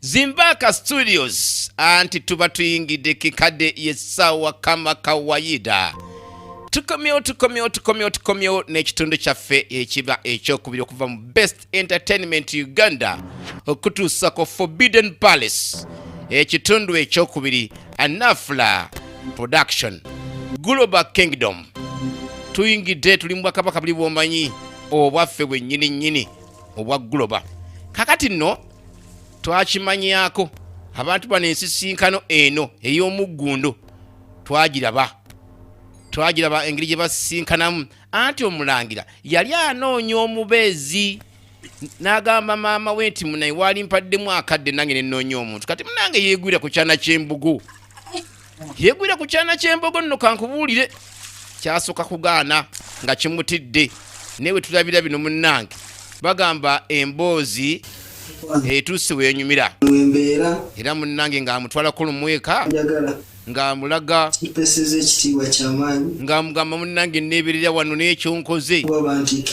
Zimbaka Studios anti tuba tuyingidde kikadde yessaawa kama kawayida tukomyewo tukomyewo tukomyewo tukomyewo n'ekitundu kyaffe ekiba ekyokubiri okuva mu best entertainment uganda okutuusa ku forbidden palace ekitundu ekyokubiri anafula production global kingdom tuyingidde tuli mu bwakabaka buli bwomanyi obwaffe bwennyini nnyini obwa guloba kakati nno twakimanyako abantu bano ensisinkano eno ey'omuggundu twagiraba twagiraba engeri gye basisinkanamu anti omulangira yali anoonya omubeezi n'agamba maama we nti munaye waali mpaddemu akadde nange nenoonya omuntu kati munange yeegwira ku kyana ky'embugu yegwira ku kyana ky'embogo nno kankubuulire kyasooka kugaana nga kimutidde naye we tulabira bino munnange bagamba emboozi etuuse wenyumira era munnange ng'amutwalako lumweka ng'amulaga ng'amugamba munnange neeberera wano n'ekyonkoze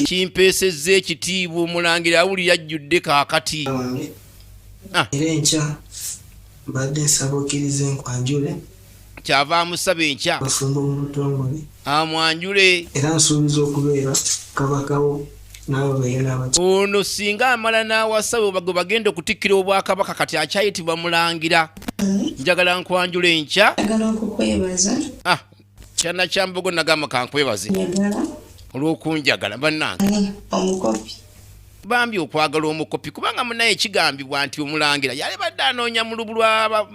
kimpeesezza ekitiibwa omulangira awulira ajjudde kaakati ah. era enkya mbadde nsaba okkiriza enkwanjule kyava amusaba enkya musumba omutongole amwanjule era nsuubiza okubeera kabakawo ono singa amala n'awasawe gwe bagenda okutikkira obwakabaka kati akyayitibwa mulangira njagala nkwanjula enkya ah, kyana kyambogo nagamba kankwebaze olwokunjagala banange omukopi bambi okwagala omukopi kubanga munaye kigambibwa nti omulangira yali badde anoonya mu lubu lwa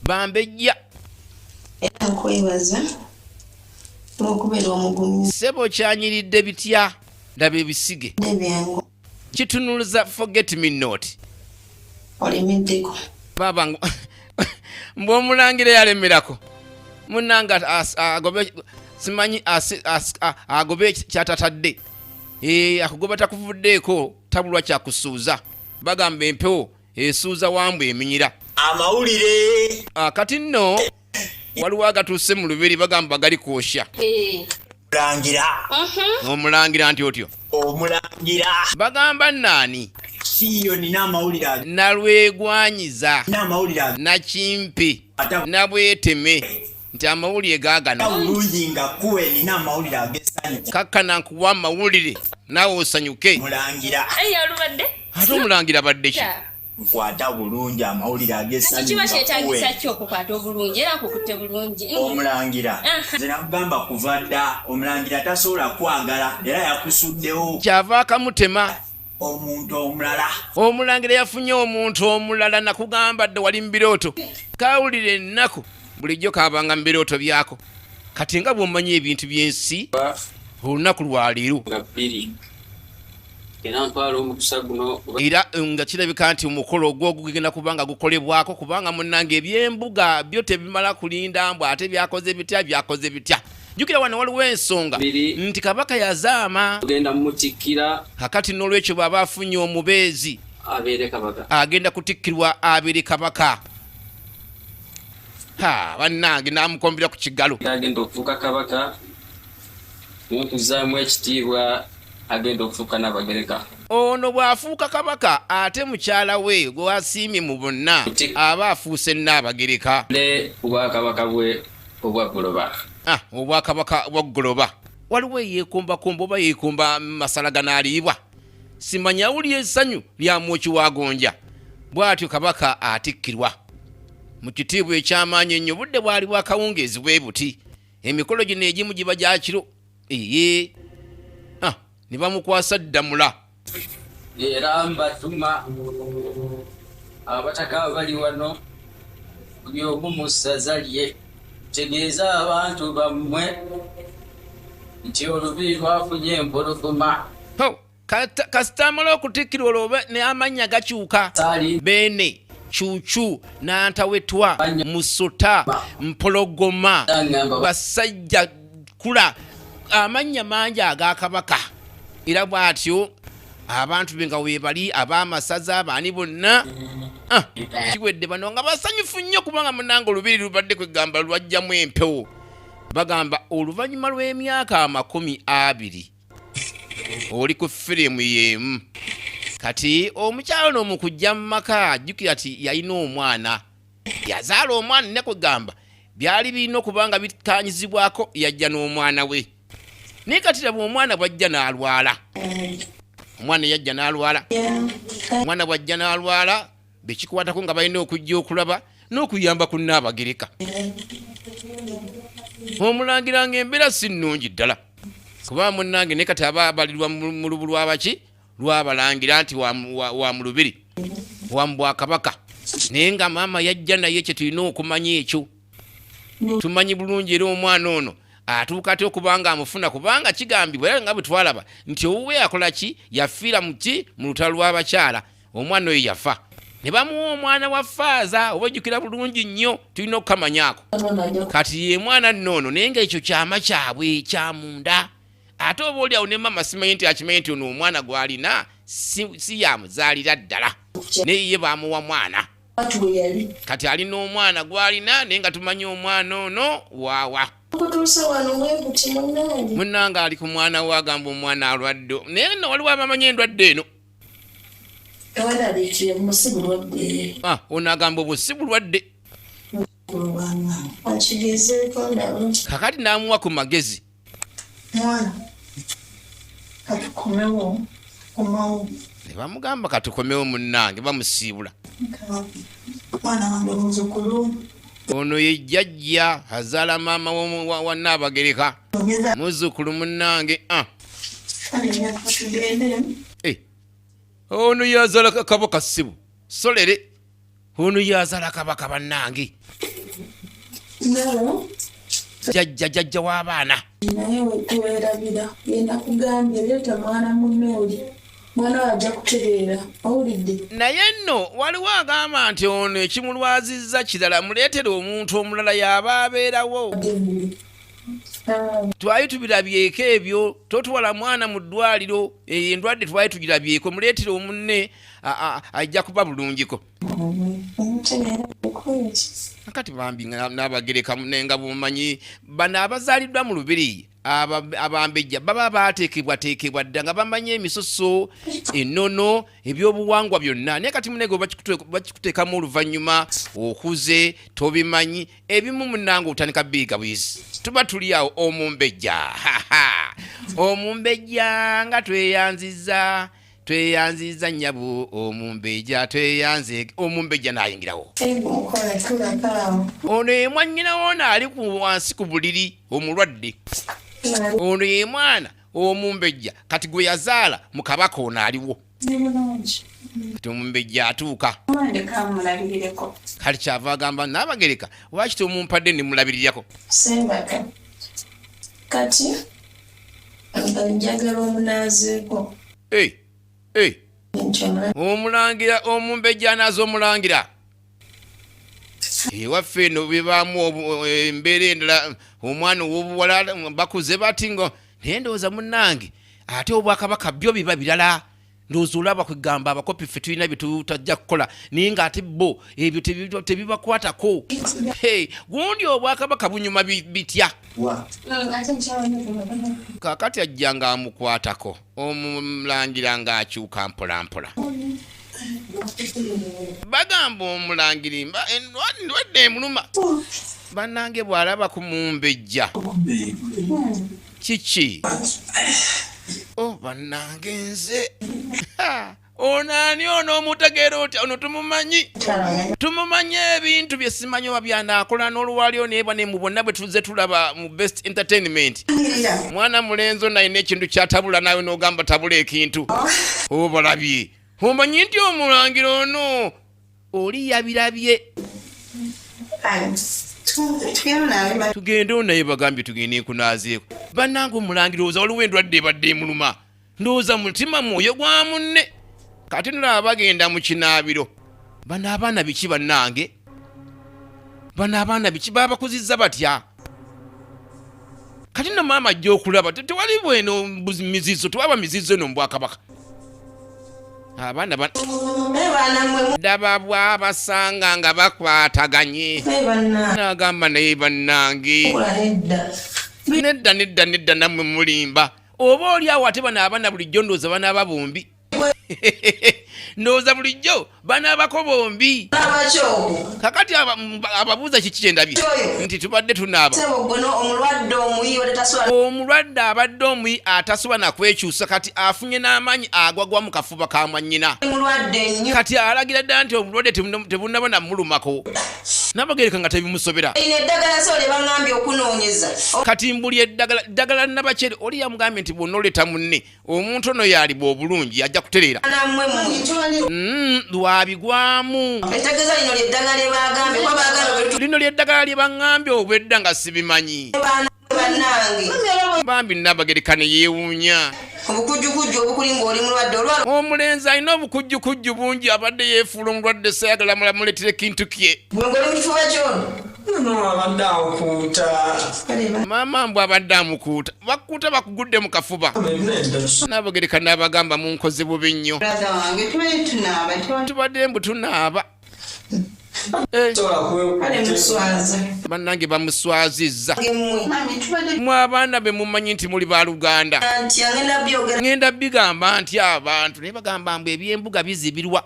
bambejja era nkwebaza olwokubeera omugumizi sebo kyanyiridde bitya ndaba ebisige kitunuluza forget me not olimiddeko baba mbwomulangira yalemerako munange agobe simanyi agobe kyatatadde e, akugoba takuvuddeeko tabulwa kyakusuuza bagamba empewo esuuza wambu eminyira amawulire kati nno waliwo agatuuse mu lubiri bagamba gali kwosha e. omulangira mhm. omulangira nti otyo omulangira bagamba naani siiyo nina amawulire ago nalwegwanyiza nina amawulire ago nakimpi nabweteme nti amawulire gagano bulungi nga kuwe nina amawulire agesanyu kakkana nkuwa amawulire naawe osanyuke mulangira ate omulangira badde ki nkwata bulungi amawulire agesankiba kyetagisa ki okukwata obulungi era kukutte bulungi omulangira nze nakugamba kuva dda omulangira tasobola kwagala era yakusuddewo kyava akamutema omuntu omulala omulangira yafunye omuntu omulala nakugamba dde wali mu birooto kawulire ennaku bulijjo kabanga mu birooto byako kati nga bwomanyi ebintu byensi olunaku lwaleero era ntwala omukisa guno era eh, nga kirabika nti omukolo ogwo gugenda kubanga gukolebwako kubanga munange ebyembuga byo tebimala kulinda mbw ate byakoze bitya byakoze bitya jukira wano waliwo ensonga nti kabaka yazaama ogenda mutikkira kakati n'olwekyo bwaba afunye omubeezi abeere kabaka agenda kutikkirwa abeere kabaka ha bannange namukombera ku kigalo agenda okufuuka kabaka Mukuzzaamu ekitiibwa agenda okufuuka Nnabagereka. Ono bw'afuuka Kabaka ate mukyala we gw'asiimye mu bonna aba afuuse Nnaabagereka. Ne Obwakabaka bwe obwa Goloba. Ah, Obwakabaka bwa Goloba. Waliwo eyeekombakomba oba yeekomba masala ganaaliibwa. Simanyi awulira essanyu lya mwoki wa gonja. Bw'atyo Kabaka atikkirwa. Mu kitiibwa eky'amaanyi ennyo budde bwali bwakawungeezi bwe buti. emikolo gino egimu giba gya kiro eye ne bamukwasa ddamula era mbatuma abataka abali wano buli omu mu ssaza lye tegeeza abantu bammwe nti olubi lwafunye empologoma kasita amala okutikkirwa olwo ne amannya gakyuka beene cucu nantawetwa musuta mpologoma basajja kula amannya mangi agakabaka era bwatyo abantu be nga webali abamasaza abaani bonna ah, kiwedde bano nga basanyufu nnyo kubanga munanga olubiri lubadde kwegamba lwajjamu empewo bagamba oluvannyuma lw'emyaka amakumi abiri oli ku firimu y'emu kati omukyalo ono mu kujja mu maka jjukira ti yalina omwana yazaala omwana ne kugamba byali birina okuba nga bikanyizibwako yajja n'omwana we naye kati laba omwana bwajja n'alwala omwana yajja n'alwala omwana bwajja n'alwala bekikwatako nga balina okujja okulaba n'okuyamba ku nnaabagereka omulangira nga embeera si nnungi ddala kuba munnange ne kati aba abalirwa mu lubu lwabaki lwabalangira nti wa mu lubiri wa mu bwakabaka naye nga maama yajja naye kye tulina okumanya ekyo tumanyi bulungi era omwana ono atuuka atya okubanga amufuna kubanga kigambibwa era nga bwe twalaba nti owuwe akola ki yafiira mu ki mu lutalo lw'abakyala omwana oyo yafa ne bamuwa omwana wa faaza oba ojjukira bulungi nnyo tulina okukamanyaako kati ye mwana nnoono naye nga ekyo kyama kyabwe kyamunda ate oba oli awo ne mama simanyi nti akimanyi nti ono omwana gwalina si yamuzaalira ddala naye ye bamuwa mwana kati ali n'omwana gwalina naye nga tumanyi omwana ono waawa munange ali ku mwana we agamba omwana alwadde naye no waliwo abamanyi endwadde eno Ah, ono agamba obwo si bulwadde kakati namuwa ku magezi nebamugamba katukomewo munange bamusiibula ono ye jjajja azaala maama wa naabagereka muzukulu munange ah. Eh. ono yazala kakabo kasibu solere ono yazala kabaka bannange jajja jajja w'abaana naye wetuwerabira yenda kugambye leeta mwana munooli mwana wajja kutereera owulidde naye nno waliwo agamba nti ono ekimulwazizza kirala muleetere omuntu omulala yaba abeerawo twali tubirabyeko ebyo totwala mwana mu ddwaliro eyo endwadde twali tugirabyeko muleetera omunne ajja kuba bulungiko kati bambi nabagerekamu naye nga bumanyi bano abazaaliddwa mu lubiri abambejja baba baateekebwateekebwa dda nga bamanyi emisoso enono ebyobuwangwa byonna naye kati munege bakikuteekamu oluvannyuma okuze tobimanyi ebimu munange otandika biiga buyizi tuba tuli awo omumbejja omumbejja nga tweyanziza tweyanziza nyabo omumbejja tweyanze omumbejja nayingirawo ono yemwanyina wona ali wansi ku buliri omulwadde ono yemwana omumbejja kati gwe yazaala mu kabaka ono aliwo kati omumbejja atuuka kali kyava agamba naabagereka lwaki tomumpadde nemulabirirako kati njagala omunaazeeko omulangira omumbejja anaaza omulangira ewaffe eno bibaamu eh, embeera endala omwana owobuwala bakuze bati ngo naye ndowooza munange ate obwakabaka byo biba birala ndowooza olaba kwegamba abakopi ffe tulina byetutajja kukola naye nga ate bo ebyo tebibakwatako gundi obwakabaka bunyuma bitya kakati ajja nga amukwatako omulangira ng'akyuka mpolampola bagamba omulangira mba ndwadde emuluma bannange bw'alaba ku mumbejja kiki o oh, bannange nze ono ani ono omutegeera otya ono tumumanyi tumumanyi ebintu bye simanyi oba byanaakola n'olwalio neeba ne mu bonna bwe tuzze tulaba mu best entertainment mwana mulenzi ono alina ekintu kyatabula naawe n'ogamba tabula ekintu oh. obalabye omanyi nti omulangira ono oli yabirabye tugende onaye bagambye tugende nkunaazeeko bannanga omulangira oza waliwo endwadde ebadde emuluma ndowooza mutima mwoyo gwa munne kati nolaba bagenda mu kinaabiro bano abaana biki bannange bano abaana biki babakuzizza batya kati no maama ajja okulaba tewali bweno mizizo tewaba mizizo eno mubwakabaka abaana daba bwabasanga nga bakwataganye nagamba naye bannange nedda nedda nedda namwe mulimba oba oli awo ate bano abana bulijjo ndowooza banaaba bombi ndowooza bulijjo banaabako bombi kakati ababuuza kiki kyendabye nti tubadde tunaaba omulwadde abadde omuyi atasoba nakwekyusa kati afunye n'amaanyi agwagwa mu kafuba ka mwanyina kati alagira ddala nti obulwadde tebunabona mulumako nabagereka nga tebimusobera kati mbuli eddagala ddagala nabakyere oli yamugambye nti bwonna oleeta munne omuntu ono yaliba obulungi ajja kutereera mm, lwabigwamu lino lyeddagala lye baŋambye obwedda nga sibimanyi bambi nabagerekane yewuunya omulenzi alina obukujjukujju bungi abadde yefuula omulwadde sayagala mulamuletera ekintu kye maama mbw abadde amukuuta bakuuta bakugudde mu kafuba nabogereka naabagamba munkoze bubi nnyo tubadde mbu tunaaba Eh. bannange bamuswazizza mwe abaana be mumanyi nti muli baluganda ŋenda bigamba nti abantu naye bagamba mbu ebyembuga bizibirwa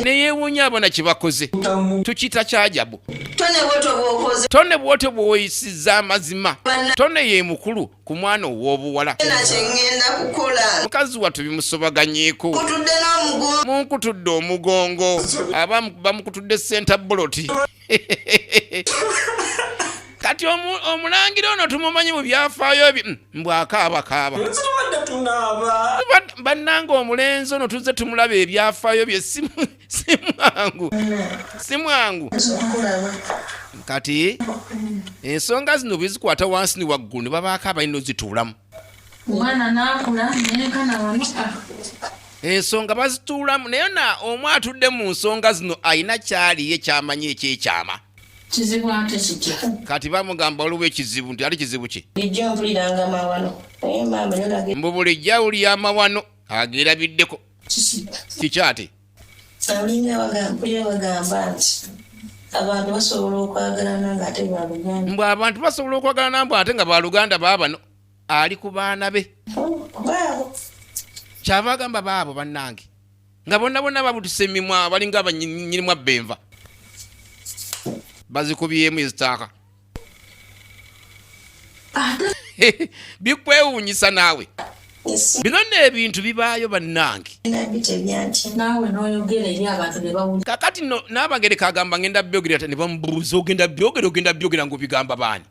neyewunya abona kyebakoze tukita kyajabu tone bwoto bwoyisiza amazima tone yemukulu ku mwana ow'obuwala mukazi wattu bimusobaganyeko munkutudde omugongo aba bamukutudde senta boloti kati omulangira ono tumumanyi mu byafaayo bi mm, mbwakaabakaaba bannanga omulenzi ono tuzze tumulaba ebyafaayo byesimu si mwangu si mwangu kati ensonga zino bwezikwata wansi ni waggulu ne babaako abalina ozituulamu ensonga bazituulamu naye na omu atudde mu nsonga zino alina kyaliye kyamanyi ekyekyama kizibu ate kitya kati bamugamba waliwo ekizibu nti ali kizibu ki mbu bulijjo awulira amawano agerabiddeko kiki ate alinga bagamba nti abantu basobola okwagalana nga ate baluganda mbu abantu basobola okwagalana mbu ate nga baluganda baabano ali ku baana be oh, kyava agamba baabo bannange nga bonna bonna babutuse emimwa balinga abanyinimu abbenva bazikubyemu ezitaaka bikwewuunyisa naawe bino nno ebintu bibaayo bannange kakati no n'abagereka agamba ngenda byogera ta ne bamubuuza ogenda byogera ogenda byogera ng'obigamba baani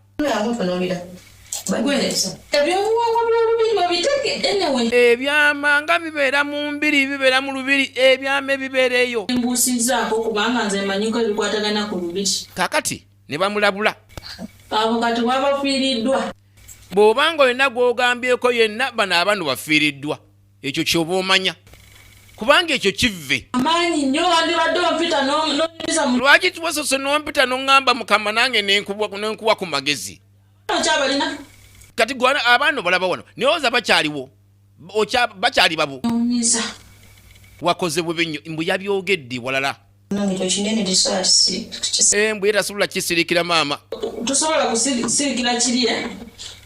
ebyama nga bibeera mu mbiri bibeera mu lubiri ebyama ebibeera eyo kakati ne bamulabula abo kati babafiiriddwa bw'oba nga olina gw'ogambyeko yenna bano abanu bafiiriddwa ekyo kyoba omanya kubanga ekyo kivve amaanyi nnyo wandibadde ompita nonyumiza lwaki tiwasose n'ompita n'oŋŋamba mukama nange nenkuwa ku magezi okyabalina kati gwana abaana obalaba wano naye oza bakyaliwo bakyali babu wakoze bubi nnyo mbu yabyogedde walala Embwa era sobola kisirikira maama. Tusobola kusirikira kiri eh?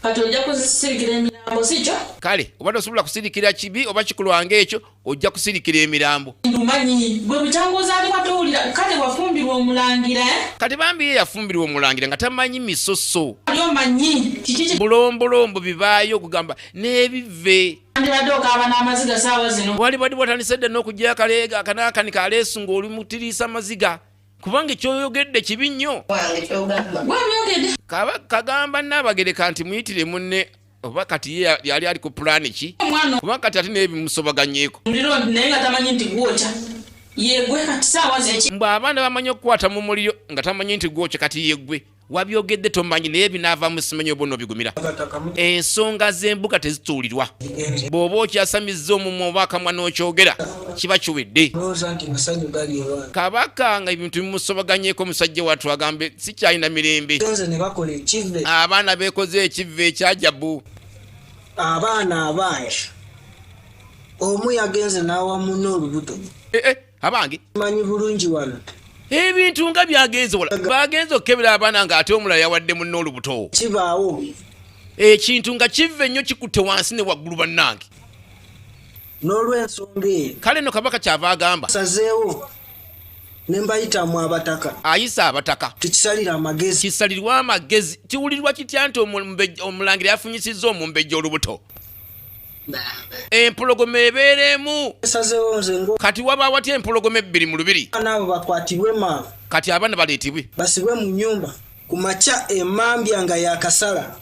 kati ojja kusirikira emirambo sikyo? Kale oba tosobola kusirikira kibi oba kikulwanga ekyo ojja kusirikira emirambo. Ndumanyi gwe butanguza alima towulira kale wafumbirwa omulangira eh? Kati bambi ye yafumbirwa omulangira nga tamanyi misoso. Omanyi kiki bulombolombo bibaayo okugamba n'ebive. wandibadde okaaba n'amaziga saawa zino wandibadde watandise dda n'okugyayo akaleega akanaakani kaleesu ng'oli mutiriisa amaziga kubanga ekyoyogedde kibi nnyo kagamba naabagereka nti muyitire munne oba kati ye yali ali ku pulaani ki oba kati ate naye bimusobaganyeeko mbwe abaana bamanyi okukwata mu muliro nga tamanyi nti gwokya kati yegwe wabyogedde tomanyi naye binaavamu simanyi oba onobigumira ensonga z'embuga tezituulirwa bw'oba okyasamizza omumwa oba akamwa n'okyogera kiba kiwedde kabaka nga ebintu bimusobaganyeko omusajja watu agambe sikyalina mirembe abaana beekoze ekivve ekyajabu abaana abangi omu yagenze n'awa munne olubuto eh, eh. abange manyi bulungi wano ebintu nga byagenze wala bagenze okukebera abaana nga ate omulala yawadde munna olubuto kibaawo ekintu nga kiva ennyo kikutte wansi ne waggulu bannange n'olwensonga eyo kale no kabaka kyava agamba sazeewo ne mbayitamu abataka ayisa abataka tukisalira amagezi kisalirwa amagezi kiwulirwa kitya nti omulangira yafunyisizza omumbejja olubuto empologoma ebeera emu kati waba watya empologoma ebbiri mu lubiri kati abaana baleetebwe basibwe mu nyumba ku makya emambya nga yakasala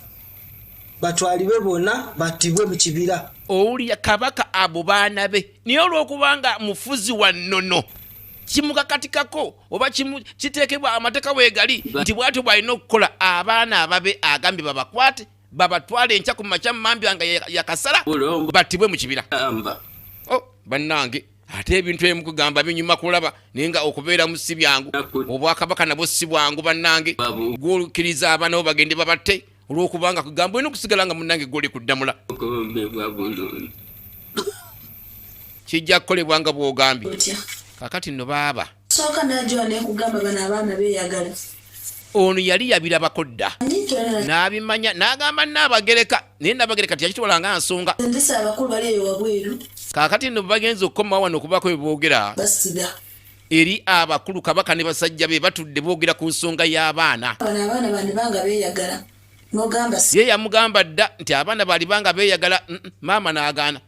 batwalibwe bona batibwe mu kibira owulira kabaka abo baana be naye olwokubanga mufuzi wa nnono kimukakatikako oba kiteekebwa amateeka weegali nti bwatyo bwalina okukola abaana ababe agambye babakwate babatwale enkya ku makya mambya nga yakasala battibwe mu kibira oh, bannange ate ebintu ebimu kugamba binyuma kulaba naye nga okubeera mu si byangu obwakabaka nabwo si bwangu bannange gwolukiriza abaana bo bagende babatte olwokubanga kugamba olina okusigala nga munnange gwoli kuddamula kijja kukolebwa nga bwogambye kakati no baaba Sooka n'ajowa n'ekugamba bano abaana beeyagala. Ono yali yabirabako dda n'abimanya n'agamba Nnaabagereka naye Nnaabagereka teyakitwala nga nsonga. Ndisa abakulu bali eyo wabweru. Kaakati nno bagenze okukomawo wano okubaako bye boogera. Basiga. Eri abakulu Kabaka ne basajja be batudde boogera ku nsonga y'abaana. Bano abaana bandibanga beeyagala. ye yamugamba dda nti abaana balibanga beyagala mm, mm, maama n'agaana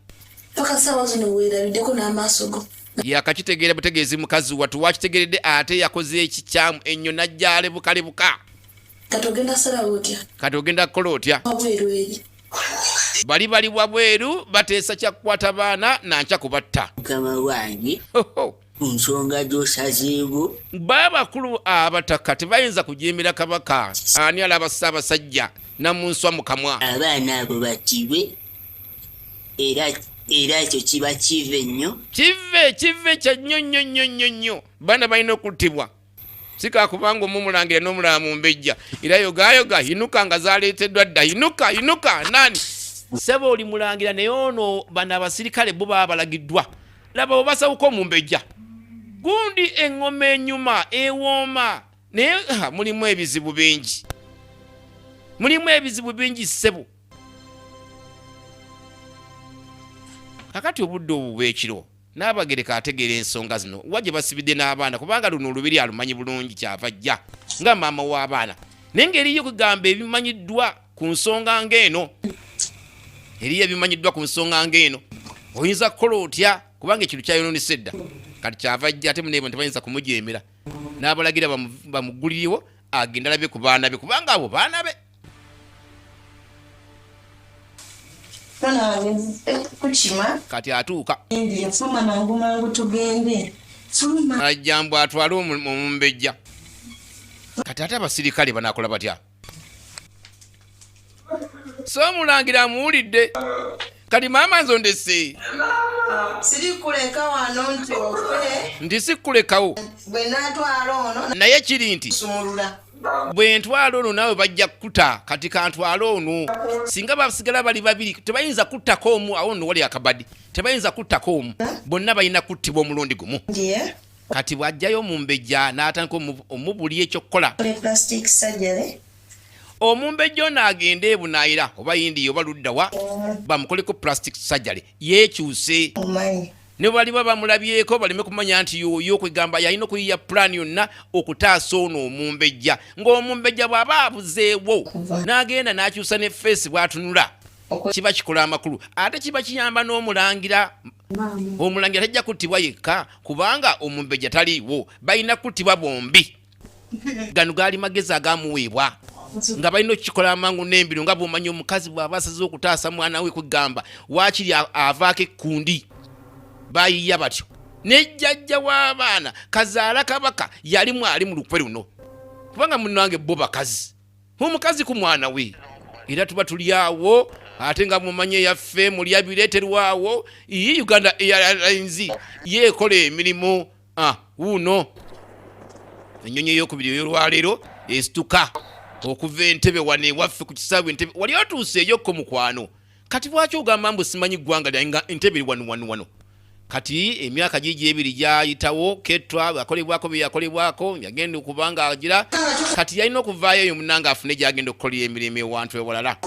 yakakitegeera butegeezi mukazi watu wakitegeredde ate yakoze ekikyamu ennyo najjalebukalebuka kati ogenda kukola otya bali bali wabweru bateesa kyakukwata baana nankya kubatta ku nsonga gy'osazeewo baabakulu abataka tebayinza kujeemera kabaka ani alaba ssaabasajja namunswa mu kamwa abaana abo batibwe era era ekyo kiba kive nnyo kive kive kya nnyo nnyo nnyo nnyo nnyo baana balina okuttibwa sikakubanga omumulangira nomulaba mumbejja era yogayoga yinuka nga zaleeteddwa dda yinuka yinuka nani sebo oli mulangira naye ono bano abasirikale bo baba balagiddwa laba obasawuka omumbejja gundi eŋoma enyuma ewooma naye mulimu ebizibu bingi mulimu ebizibu bingi sebo kakati obudde obubwekiro Nnaabagereka ategeera ensonga zino wa gye basibidde n'abaana kubanga luno olubiri alumanyi bulungi kyava ajja nga maama w'abaana naye ng'eriyo okugamba ebimanyiddwa ku nsonga ng'eno eriyo ebimanyiddwa ku nsonga ng'eno oyinza kukola otya kubanga ekintu kyayonoonesa edda kati kyava ajja ate muneebo ntibayinza kumujeemera n'abalagira bamuggulirewo agenda alabe ku baana be kubanga abo baana be kati atuuka ajja mbu atwale omumbejja kati ate abasirikale banakola batya so omulangira amuwulidde kati maama nzo ndese nti sikulekawo naye kiri nti bwe ntwala ono naawe bajja kukuta kati kantwala ono singa basigala bali babiri tebayinza kuttako omu awo no wali akabadi tebayinza kuttako omu bonna balina kuttibwa omulundi gumu kati bwajjayo omumbejja n'atandika omubuli ekyokukola omumbejja ono agende ebunaayira oba yindiya oba luddawa bamukoleko plastic surgery yeekyuse ne baliba bamulabyeko baleme kumanya nti yoyo kwegamba yalina okuyiya pulaani yonna okutaasa ono omumbejja ng'omumbejja bw'aba abuzeewo n'agenda n'akyusa ne feesi bw'atunula kiba kikola amakulu ate kiba kiyamba n'omulangira omulangira tajja kuttibwa yekka kubanga omumbejja taliiwo balina kuttibwa bombi gano gaali magezi agamuweebwa nga balina okukikola amangu n'embiro nga bwomanya omukazi bw'aba asaze okutaasa mwana we kwegamba waakiri avaako ekkundi bayiya batyo nejjajja w'abaana kazaala kabaka yali mwali mu lukwe luno kubanga munange bo bakazi omukazi ku mwana we era tuba tuli awo ate nga mumanye yaffe mulya bireeterwawo iyi uganda airlines yeekola emirimu ah, wuuno ennyonyi eyokubiri eyolwaleero esituka okuva entebe wano ewaffe ku kisaawe entebe wali otuuseeyokko mukwano kati lwaki ogamba mbu simanyi ggwanga lyange nga entebe eri wano wano wano kati emyaka gigi ebiri gyayitawo ketwa akolebwako byeyakolebwako yagenda okuba nga agira kati yalina okuvaayo eyo munanga afune gyagenda okukolera emirimu ewantu ewalala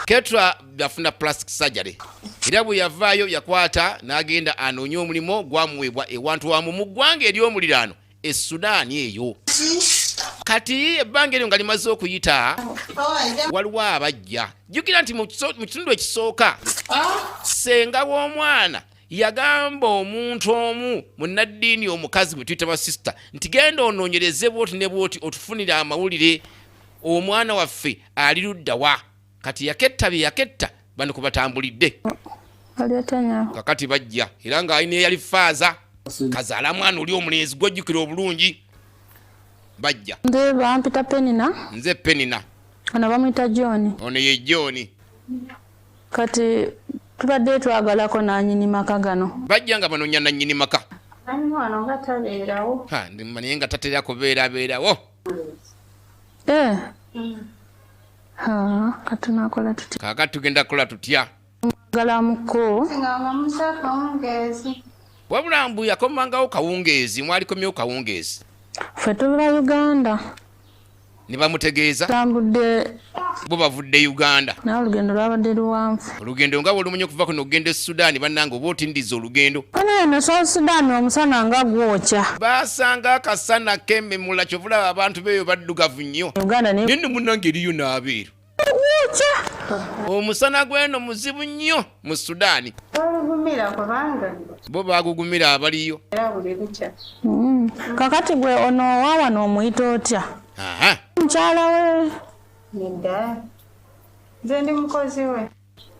ketwa yafuna plastic surgery era bwe yavaayo yakwata n'agenda anoonye omulimu gwamuweebwa ewantu wamu mu ggwanga ery'omuliraano e sudaani eyo kati ebbanga eryo nga limaze okuyita waliwo abajja jjukira nti mu kitundu ekisooka ssenga w'omwana yagamba omuntu omu munnaddiini omukazi bwe tuyita basisita nti genda onoonyereze bwoti ne bwoti otufunire amawulire omwana waffe ali luddawa kati yaketta bye yaketta bani kubatambulidde kakati bajja era nga alina eyali faaza kazaala mwana oli omulenzi gwojjukira obulungi bajja nze bampita penina nze penina ono bamwita john ono ye john kati tubadde twagalako nanyini maka gano bajja nga banonya nanyini maka naye nga tatera kubeerabeerawo eh. mm. kaakati tugenda kukola tutya wabula mbu yakomangawo kawungeezi mwalikomyewo kawungeezi fe tubula uganda ne bamutegeeza tambudde bo bavudde uganda nawe olugendo lwabadde luwanvu olugendo nga bwolumunye okuva kuno okugenda e sudaani bannanga oba otindiza olugendo eno south sudaani omusana nga gwokya baasanga akasana kememula kyovulaba abantu beeyo baddugavu nnyo naye no munange eriyo naabeero gwokya omusana gweno muzibu nnyo mu sudaani bo bagugumira abaliyo mm. kakati gwe ono owawano omuyita otya mukyala we Nze ndi mukozi we.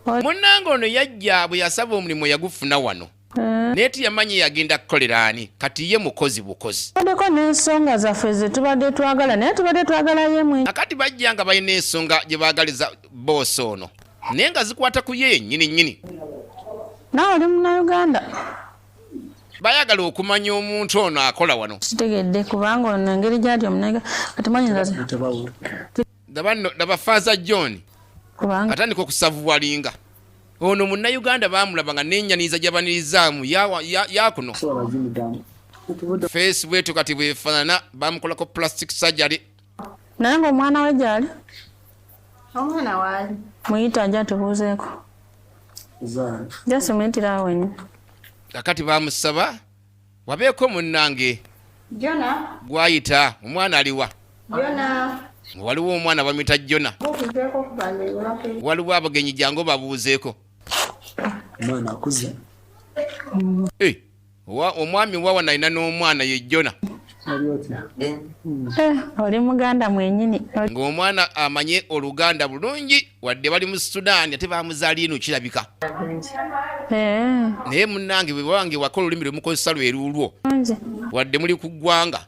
Munnange ono yajja bwe yasaba omulimu yagufuna wano eh. naye teyamanyi yagenda kukolera ani kati ye mukozi bukozi adeko n'ensonga zaffe ze tubadde twagala naye tubadde twagala yemwe akati bajja nga balina ensonga gye baagaliza boosi ono naye nga zikwata ku ye yennyini nnyini naawe oli munauganda bayagala okumanya omuntu ono akola wano kitegedde kubanga ono engeri gyali omunega kati manyinza ndaba no ndaba faza john kubanga atandika okusavuwalinga ono munnayuganda bamulaba nga nenyaniriza gyabanirizaamu yawa- ya- yakuno feesi bwetu kati bwefaanana bamukolako plastic surgery naye ngaomwana we gyali omwana waali muyita ajja tubuuzeeko jasi muyitira awo wenyini kakati bamusaba wabeeko munnange jona gwayita omwana aliwa jona waliwo omwana bamuyita jona waliwo abagenyi jangu babuuzeeko omwana akuze eh, omwami wawa nalina n'omwana ye jona Eh, oli muganda mwenyini ng'omwana amanye oluganda bulungi wadde bali mu sudaani ate bamuzala ino kirabika eh. naye munange bwebange waka olulimi lwemukozesa lweruulwo wadde muli ku ggwanga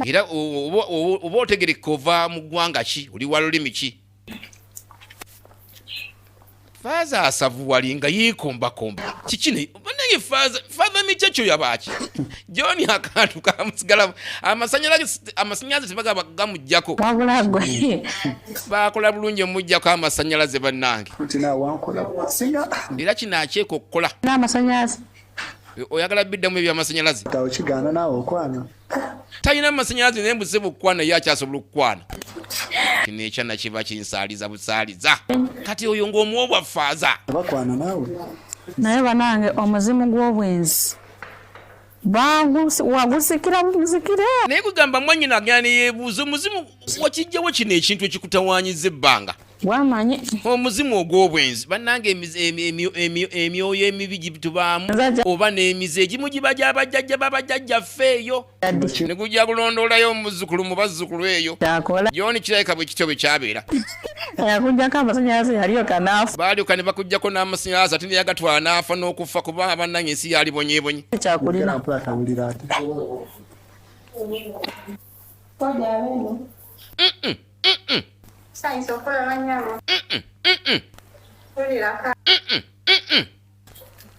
era oba otegereka ova mu ggwanga ki oli wa lulimi ki faaza asavuwali nga yeekombakomba kiki naye banange faaza faaza mikya kyo yabaaki john akantu kamusigalamu amasanyalaze tebagaba gamujjako wabula gwe bakola bulungi omujjako amasanyalaze bannange era kino akyeka okukola n'amasanyalaze oyagala biddamu ebyamasanyalaze talina masanyalaze naye mbuze bukwana ye akyasobola okukwana kino ekyana kiba kinsaaliza busaaliza kati oyo ng'omuwa obwafaaza bakwana naawe naye banange omuzimu gw'obwenzi wagusikira buzikire naye kugamba mwanyina agenda neyebuuza omuzimu wakijjawo kino ekintu ekikutawanyiza ebbanga wamanyi omuzimu ogw'obwenzi bannanga emyoyo emibi gitubaamu oba n'emize egimu giba gyabajjajja babajjajjaffe eyo ne gujja kulondoolayo omuzzukulu mu bazzukulu eyo gyoni kirabika bwe kityo bwe kyabeera baalyoka ne bakugjako n'amasanyalaze ate neyagatwala n'afa n'okuffa kuba abannanga ensi yaalibonyebonye Mm-mm.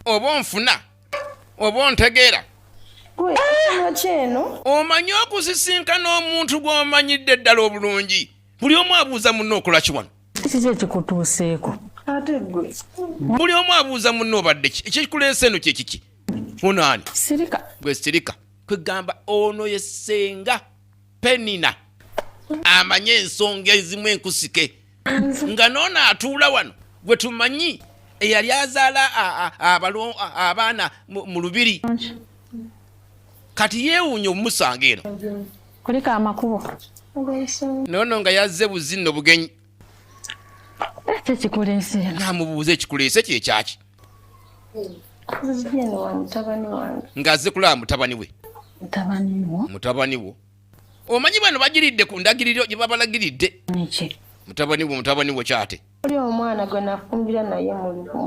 oba onfuna oba ontegeera omanyi okusisinkana omuntu gw'omanyidde ddala obulungi buli omu abuuza munna okola ki wano kiki ekikutuuseeko buli omu abuuza munna obadde ki ekikuleesa eno kyekiki ono ani gwe sirika kwegamba ono yesenga penina amanyi ensonga ezimu enkusike nga noono atuula wano gwe tumanyi eyali azaala abaana mu lubiri kati yeewuunya omumusanga eno kuliko amakubo noono nga yazze buzinno bugenyi namubuuza ekikuleese kye kyaki nga azze kulaba mutabani we mutabani wo omanyi bano bagiridde ku ndagiriro gye babalagiridde mutabani wo mutabani wo kyate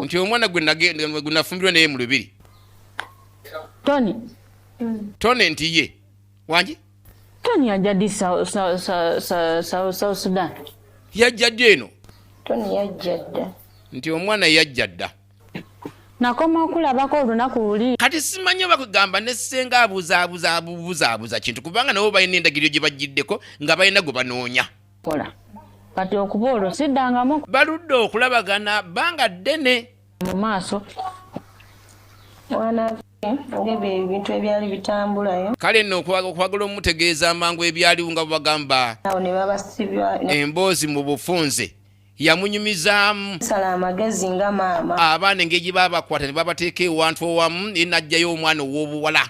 nti omwana gwe nafumbirwa naye mu lubiri tone nti ye wangi tony yajja di south sudan yajja ddi eno tony yajja dda nti omwana yajja dda nakoma okulabako olunaku luli kati simanyi oba kugamba ne senga abuzabuzabuzabuzaabuza kintu kubanga nabo balina endagiriro gye bajjiddeko nga balina gwe banoonya kola kati okuba olwo siddangamu baludde okulabagana banga ddene mu maaso ng'ebyo ebintu ebyali bitambulayo kale nno okwagala omutegeeza amangu ebyaliwo nga bwebagamba awo ne babasibya emboozi mu bufunze yamunyumizaamu sala amagezi nga maama abaana engeri gye babakwata ne babateeka ewantu owamu ye najjayo omwana ow'obuwala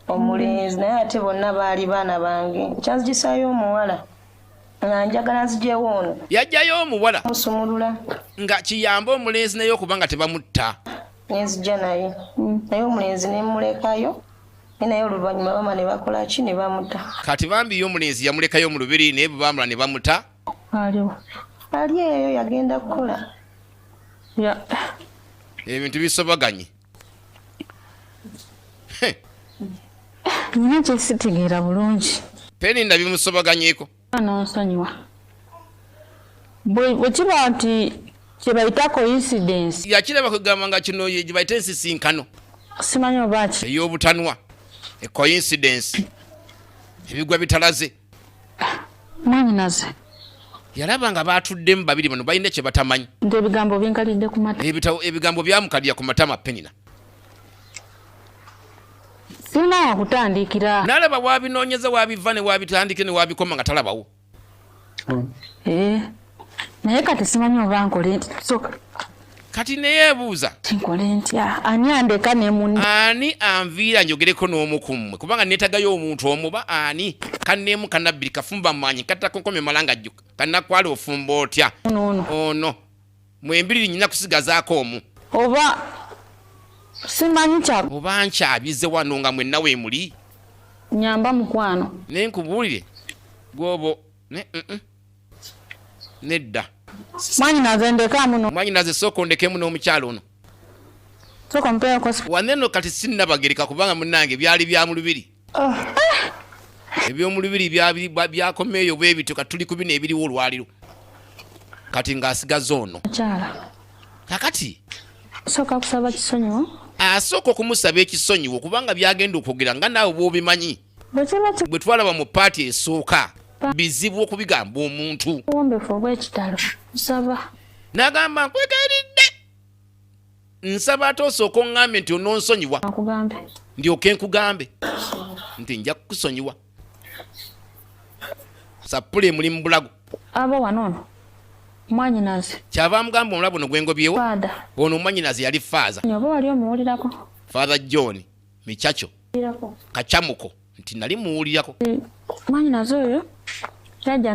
omulenzi naye ate bonna baali baana bange kyanzigisayo omuwala nga njagala nzijewo ono yajjayo omuwala musumulula nga kiyamba omulenzi naye okuba nga tebamutta nenzija naye naye omulenzi nemulekayo naye oluvanyuma bama nebakola ki nebamuta kati bambi yo omulenzi yamulekayo mu lubiri naye bwebamula nebamuta aliwo ali eyo yagenda kukola ebintu bisobaganye Nina kyesitegeera bulungi. Peni nabimusobaganyeko. Nonsonyiwa. Bwe kiba nti kyebayita coincidence. Yakiraba kugamba nga kino ye gyebayita ensisinkano. Simanyi oba ki. Ey'obutanwa. E coincidence. Ebigwa bitalaze. mwanyinaze yalaba nga batuddemu babiri bano balina kye batamanyi ebigambo binkalidde ku matama ebitabo ebigambo byamukalira ku matama penina sirina wakutandikira nalaba wabinoonyeza wabiva ne wabitandike ne wabikoma nga talabawo eh. naye kati simanyi oba nkole nti soka kati neyebuuza kinkole ntya ani andeka ne muni ani anviira njogereko n'omu ku mmwe kubanga netagayo omuntu omu ba ani kanemu kanabbiri kafumba manyi katakonkomye malanga jjuka kanakwala ofumba otya ono ono mwembiriri nyina kusigazaako omu oba simanyi kya oba nkyabize wano nga mwenna wemuli nyamba mukwano naye nkubuulire gwobo ne mm -mm. nedda mwanyinaze ndeka muno mwanyinaze sooka ondekemu n'omukyalo ono sooka mpeeko waneno kati sinnabagereka kubanga munange byali bya mu lubiri ah. ebyomulubiri byakomeeyo bwe bityo kati tuli ku bino ebiriwo olwaliro kati ng'asigaza ono kakati sooka kusaba kisonyiwo asooka okumusaba ekisonyiwo kubanga byagenda okwogera nga naawe bwobimanyi bwe twalaba mu paati esooka bizibu okubigamba omuntu n'agamba nkwegayiridde nsaba ate osooka oŋŋambe nti ononsonyiwa ndyoke nkugambe nti nja kukusonyiwa sappula emuli mu bulago aba wano ono mwanyinaze kyava amugamba omulabu no gwengobyewo ono omwanyinaze yali faaza oba wali omuwulirako father john michacho kachamuko nti nali muwulirako eh, mwanyinaze oyo jajja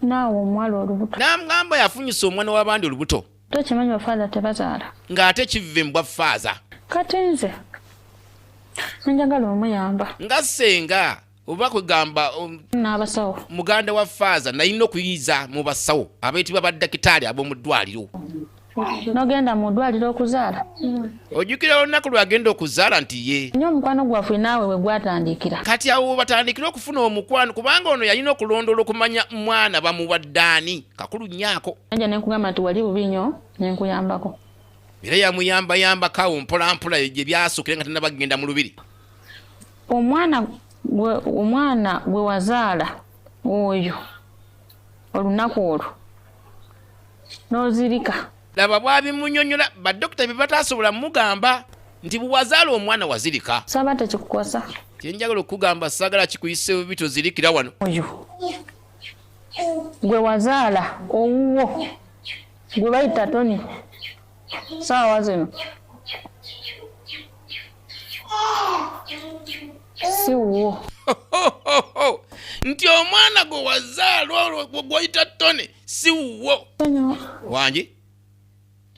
naawe omuwala olubuto namugamba yafunyisa omwana w'abandi olubuto tokimanyi bafaaza tebazaala ng'ate kiva embwa faaza kati nze nenjagala omuyamba nga senga oba kwegamba um, n'abasawo muganda wa faaza nalina okuyiiza mu basawo abeetibwa baddakitaali ab'omu ddwaliro nogenda mu ddwaliro okuzaala ojjukira olunaku lwagenda okuzaala nti ye nyo omukwano gwaffe naawe we gwatandikira kati awo batandikire okufuna omukwano kubanga ono yalina okulondoola okumanya mwana bamuwaddaani kakulu nyaako anja nenkugamba nti wali bubi nyo nenkuyambako era yamuyambayambako awo mpolampola gye byasukire nga tenabagenda mu lubiri omwana gwe omwana gwe wazaala oyo olunaku olwo n'ozirika laba bwabimunyonyola badokita bye bataasobola mugamba nti bwewazaala omwana wazirika saba tekikukwasa kyenjagala okugamba sagala kikuyise bubi tozirikira wano oyo gwe wazaala owuwo gwe bayita toni saawa zino si wuwo nti omwana gwe wazaala olwo gwoyita tone si wuwo wangi